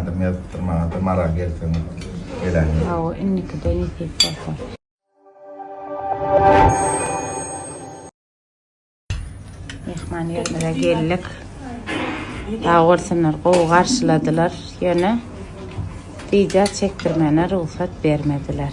Adymy ýazypdyr maňada maral gelseň geläýme. Hawa indikide nesip bolsa. Myhman ýerimize geldik. Sag bolsunlar gowy garşyladylar. Ýöne video çekdirmegine rugsat bermediler.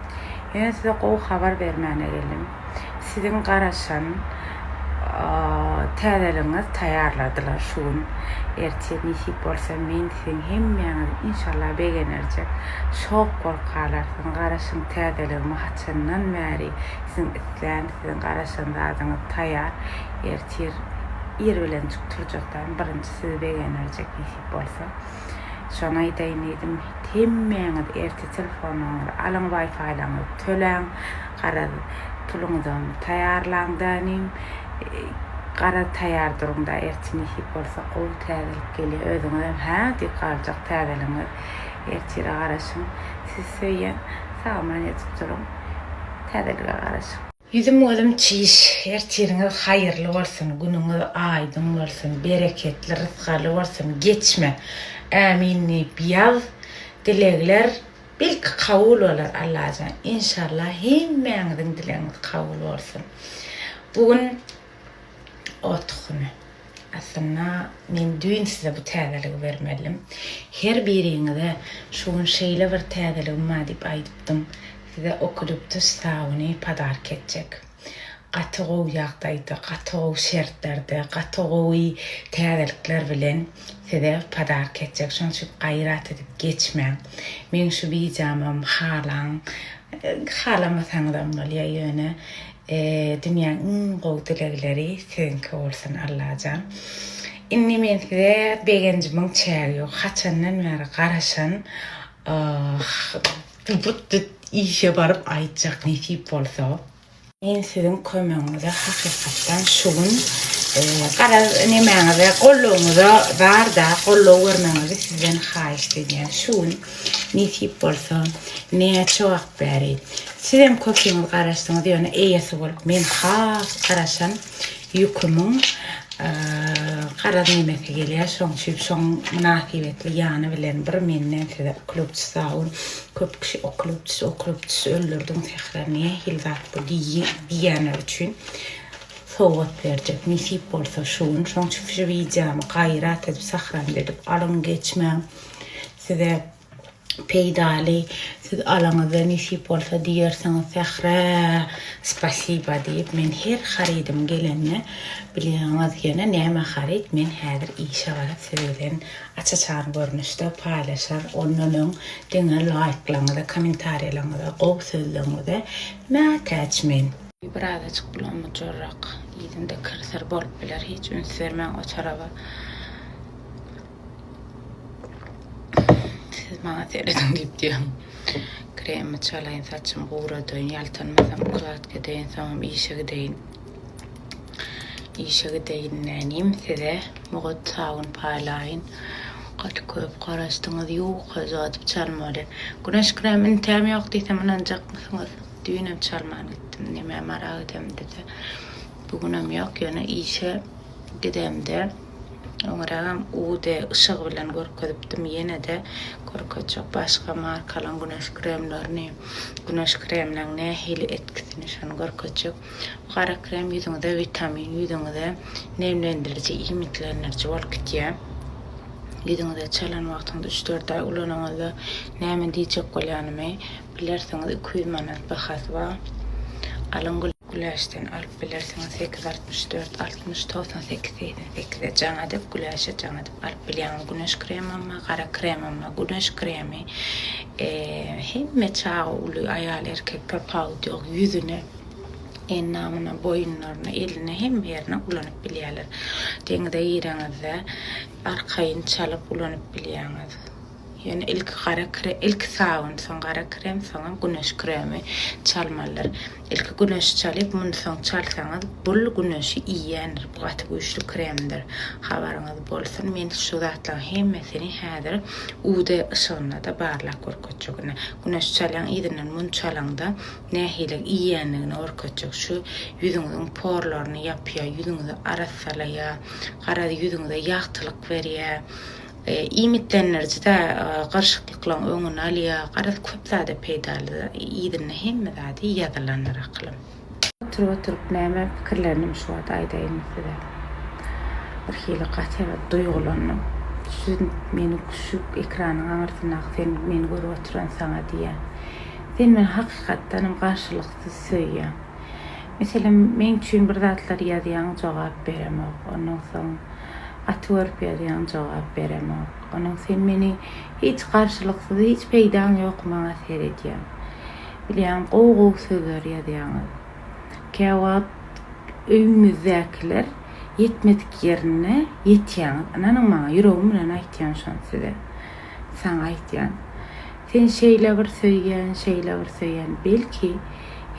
Ýöne size gowy habar bermäne geldim. Siziň garaşan täzeligiňiz taýýarladylar şu gün. Ertir nesip bolsa men siziň hemmäňizi inşallah begenerjek. Şok bolup galarsyň. Garaşyň täzeligimi haçandan bäri siziň islän, siziň garaşan zadyňyz taýýar. Ertir ir bilenjik turjakdan birinji sizi begenerjek nesip bolsa. Şony aýdaýyn diýdim. Hemmäňiz ertir telefonlaryňyzy alyň, waýfaýlaryňyzy töläň. Garaz, puluňyzam taýýarlaň-da inim. Garaz, taýýar duruň-da, ertir nesip bolsa gowy täzelik gelýär. Özüňizem hä diýip galjak täzeligiňiz. Ertire garaşyň. Sizi söýýän. Sagman ýatyp duruň. Täzelige garaşyň. Ýüzüm gözüm çiş ertiriňiz haýyrly bolsun günüňiz aýdyň bolsun bereketli rysgaly bolsun geçme Ämin diýip ýaz dilegler belki kabul bolar Allajan inşallah hemmäňiziň dilegiňiz kabul bolsun bu gün Ot tuhumy. Aslynda men düýn size bu täzeligi bermelidim. Her biriňize şu gün şeýle bir täzeligim bar diýip aýdypdym. Size okuliptus sabuny podarka etjek. Gaty gowy ýagdaýda, gaty gowy şertlerde, gaty gowy täzelikler bilen size podarka etjek. Şonuň üçin gaýrat edip geçmäň. Meň şu wideomam halaň, halamasaňyzam bolýar ýöne. Dünýäň iň gowy dilegleri siziňki bolsun Allajan. Indi men size begenjimiň çägi ýok. Haçandan bäri garaşan işe baryp aýtjak nesip bolsa. Men siziň kömegiňize hakykatdan şu gün garaz nemäňize gollugyňyza barda gollugy bermegiňizi sizden haýyşt edýän. Şu gün nesip bolsa näçe wagt Bäri. Sizem köpüňiz garaşdyňyz ýöne eýesi bolup men has garaşan ýükümiň garaz nemesi gelýär şoň üçin şoň mynasybetli ýany bilen bir menden size uklopçy sawun köp kişi uklopçy uklopçy öldürdiň sähra nähili zat bu diýýänler üçin sowgat berjek nesip bolsa şu gün şoň üçin şu wideomy gaýrat edip sahrany edip alyň geçmäň size peýdaly siz alaňyzda nesip bolsa diýersiňiz Sährä spasiba diýip men her harydym gelende bilýäňiz ýene näme haryt men häzir işe baryp siz bilen aç-açan görnüşde paýlaşar ondan öň diňe laýklaňyza kommentariýalaňyza gowy sözleňize mätäç men. Birazajyk bulanma jorrak yzynda kir-sir bolup biler hiç üns bermäň o taraba. Siz maňa serediň diýip diýýän. Kremimi çalaýyn, saçymy guradaýyn, ýaltanmasam ukladka edeýin, soňam işe gideýin. Işe gideýin nänim, size mugt sabun paýlaýyn. Gaty köp garaşdyňyz, ýuka yzgadyp çalmaly. Güneş kremi üntäm ýok diýsem ynanjakmysyňyz? Düýnem çalman gitdim, nämä maral edemde-de, bu günem ýok, ýöne işe gidemde Öňrägem UD yşygy bilen görkezipdim, ýene-de görkezjek. Başga markalaryň güneş kremlerini, güneş kreminiň nähili etkisini şony görkezjek. Bu gara krem ýüzüňize witamin, ýüzüňize nemlendiriji, iýmitlendiriji bolup gidýär. Ýüzüňize çalan wagtyňyz üç-dört aý ulanyňyzda näme diýjek bolýanymy bilersiňiz. Iki ýüz manat bahasy bar. Alyň gülüm. Güläçden alyp bilersiňiz sekiz altmyş dört altmyş togsan sekiz segsen sekize jaň edip güläçe jaň edip alyp bilýäňiz güneş kremama gara kremama güneş kremi hemme çaga uly aýal erkek tapawudy ýok ýüzüne endamyna boýunlaryna eline hemme ýerine ulanyp bilýäler deňize gireňizde arkaýyn çalyp ulanyp bilýäňiz. Ýöne ilki gara krem, ilki sabyn, soň gara krem, soňam güneş kremi çalmalydyr. Ilki güneşi çalyp, muny soň çalsaňyz, bul güneşi iýýändir, bu gaty güýçli kremdir. Habaryňyz bolsun, men şu zatlaryň hemmesini häzir UV yşygynda-da barlap görkezjek. Ine, güneşi çalýaň, yzyndan muny çalaňda, nähililik iýýändigini görkezjek. Şu ýüzüňiziň porlaryny ýapýar, ýüzüňizi arassalaýar, garaz, ýüzüňize ýagtylyk berýär. Iýmitlendiriji-de gyryşyklyklaryň öňüni alýar. Garaz, köp zada peýdaly. Yzynda hemme zady ýazylandyr akylym. Oturyp-oturyp näme pikirlendim şu wagt aýdaýyn size. Birhili gaty duýgulandym. Siz meni şu ekranyň aňyrsyndaky sen meni görüp oturan saňa diýýän. Sen meni hakykatdanam garşylyksyz söýýäň. Meselem, meň üçin bir zatlar ýazýaň, jogap beremok. Ondan soň Aty görüp ýazýaň jogap beremok. Onuň sen meni hiç garşylyksyz hiç peýdaň ýok maňa seredýän. Bilýän gowy gowy sözler ýazýaňyz. Käwagt öýüňizdäkiler ýetmedik ýerine ýetýäňiz. Ynanyň maňa ýüregim bilen aýtýan şony size. Saňa aýtýan. Sen şeýle bir söýýän şeýle bir söýýän belki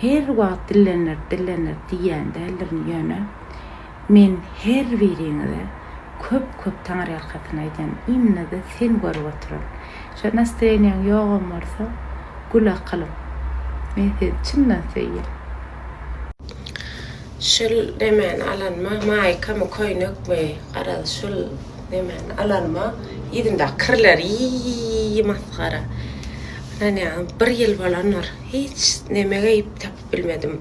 her wagt dillenir dillenir diýýän däldirin ýöne Men her biriňize köp köp taňyrýalkasyn aýdýan, indi-de seni görüp oturan. Şo nastreniýaň ýogam bolsa, gül akylym, men sizi çyndan söýýän. Şul nemäni alanyma, maýkamy, köýnekmi, garaz, şul nemäni alanyma, yzyndaky kirler, ýiý, masgara. Ynanýaňyz, bir ýyl bolandyr, hiç neme geýip tapyp bilmedim.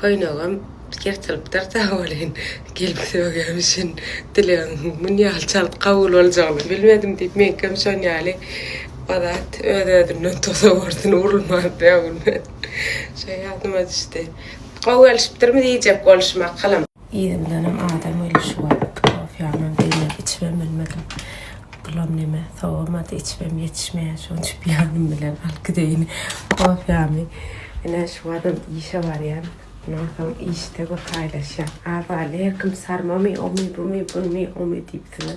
Köýnegem ýyrtylypdyr sag bolyn gelip sögýämişin dilegiň mun ýaly çalt kabul boljagyny bilmedim diýip meňkem şon ýaly bazat öz özünden toza borsun urulman sögülmen şo ýadyma düşdi gowy gelişipdirmi diýjek bolşum akylym. Yzy bilenem adam weli şu wagt kofýamam beýleki içibem bilmedim. Bulam neme sowamady içibem ýetişmeýär şoň üçin ýanym bilen alyp gideýin kofýamy. Ine şu wagtam işe barýan. Mundan soň işde bir haýlaşýan. Azaly her kim sarmamy omy bumy buny omy diýip size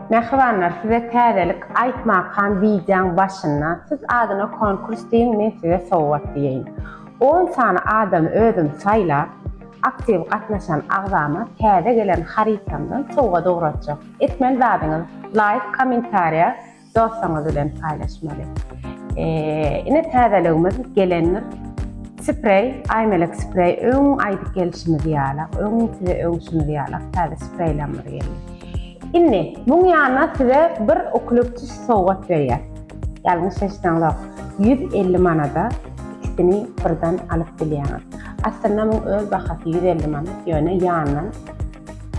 Mähribanlar size täzelik aýtmakam wideoň başynda siz adyna konkurs diýiň men size sowgat diýeýin. On sany adamy özüm saýlap aktiw gatnaşan agzama täze gelen harytamdan sowgat ugratjak. Etmeli zadyňyz laýk kommentariýa dostuňyz bilen paýlaşmaly. Ine täzeligimiz gelendir. Spreý Aýmelek spreý öň aýdyp gelişimiz ýalak öň size öňşimiz ýalak täze spreýlamyz geldi. Indi muň ýanyna size bir uklopçyş sowgat berýär. Ýalňyş eşitdäňzok, ýüz elli manada ikisini birden alyp bilýäňiz. Aslynda muň öz bahasy ýüz elli manat, ýöne ýanyndan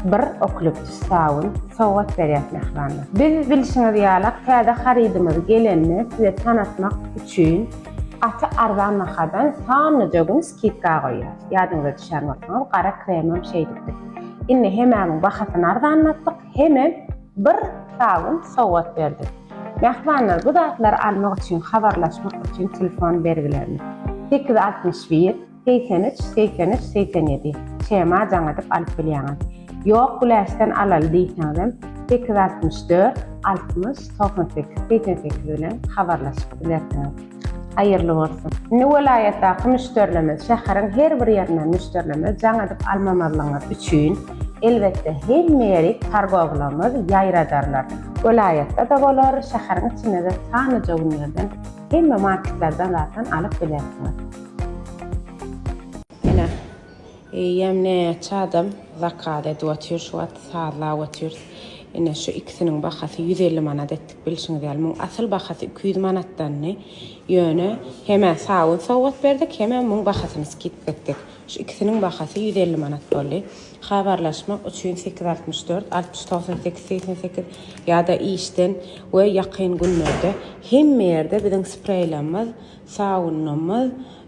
bir uklopçyş sabun sowgat berýäs mähribanlar. Biz bilşiňiz ýalak täze harydymyz gelenini size tanatmak üçin gaty arzan bahadan sanlyja gün skidka goýýas. Ýadyňyza düşýän bolsaňyz gara kremem şeýdipdik. Indi hemämiň bahasyny arzanlatdyk, hemem bir sabun sowgat berdi. Mähribanlar bu zatlary almak üçin habarlaşmak üçin telefon bergilerini, sekiz altmyş bir, segsen üç, segsen üç, segsen ýedi, şema jaň edip alyp bilýäňiz. Ýok güläçden alaly diýseňizem sekiz altmyş dört, altmyş, togsan sekiz, segsen sekiz bilen habarlaşyp bilersiňiz. Haýyrly bolsun. Indi welaýatdaky müşderilerimiz, şäheriň her bir ýerinden müşderilerimiz jaň edip almamazlygyňyz üçin, elbetde, hemme ýeri kargowlarymyz ýaýradarlar. Welaýatda-da bolar, şäheriň içinde-de sanlyja günlerden hemme marketlerden zatdan alyp bilersiňiz. Ine. Eýýäm näçe adam zakaz edip otyr şu wagt sazlap otyrys ine şu ikisiniň bahasy ýüz elli manat etdik bilşiňiz ýaly muň asyl bahasy iki ýüz manatdandy ýöne hemä sabyn sowgat berdik hemä muň bahasyny skidka etdik şu ikisiniň bahasy ýüz elli manat boldy habarlaşmak üçin sekiz altmyş dört altmyş togsan sekiz segsen sekiz ýada işden we ýakyn günlerde hemme ýerde biziň spreýlamyz sabynlamyz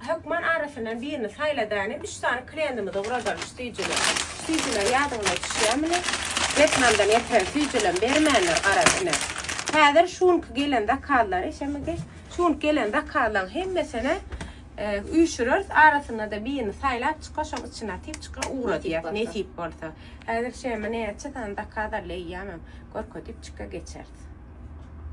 Hökman arasyndan birini saýla dänem üç sany krendimizi gurazaly sütüjüler. Sütüjüler ýadyňyza düşýämini? Wetnamdan getiren süýjülem bermänler garaz ine. Häzir şu günki gelen zakazlary şeme geç. Şu günki gelen zakazlaň hemmesini üýşüreris arasynada birini saýlap çyka şoň içine atyp çyka ugradýas nesip bolsa. Häzir şeme näçe sany zakaz alýamam görkezip çyka geçeris.